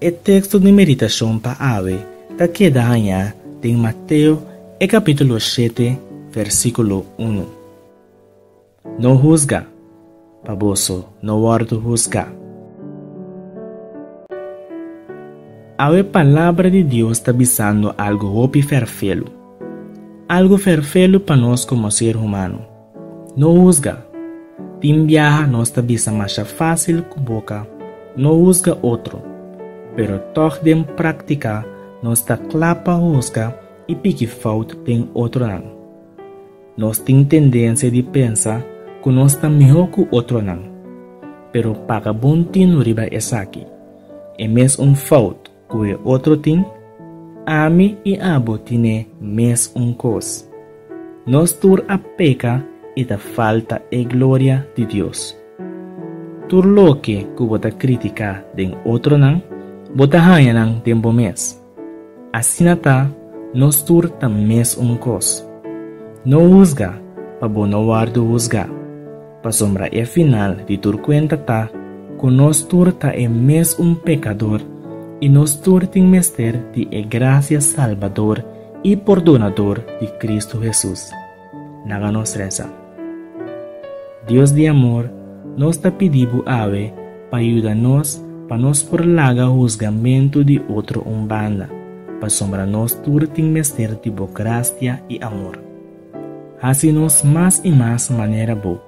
E teksto di meditashon pa awe ta keda hañá den Mateo e kapítulo shete, vèrsikulo unu. No husga. Pa boso no wòrdu husgá. Awe Palabra di Dios ta bisando algu hopi ferfelu. Algu ferfelu pa nos komo ser humano. No husga. Tin biaha nos ta bisa masha fásil ku boka no husga otro, pero tòg den práktika nos ta kla pa husga i piki fout den otronan. Nos tin tendensia di pensa ku nos ta mihó ku otronan. Pero paga bon tino riba esaki, E mes un fout ku e otro tin, ami i abo tin e mes un kos. Nos tur a peka i ta falta e gloria di Dios. Tur loke ku bo ta kritiká den otronan, bo ta haña nan den bo mes. Asina ta, nos tur ta mes un kos. No husga, pa bo no wòrdu husgá. Pasobra e final di tur kuenta ta ku nos tur ta e mes un pekador i nos tur tin mester di e grasia salbador i pordonador di Kristu Hesus. na ga nos resa. Dios di amor, nos ta pidi Bo awe pa yuda nos pa nos por laga husgamentu di otro un banda, pasobra nos tur tin mester di Bo gracia i amor. Hasi nos mas i mas manera Bo,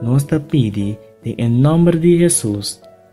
nos ta pidi den e nòmber di Hesus.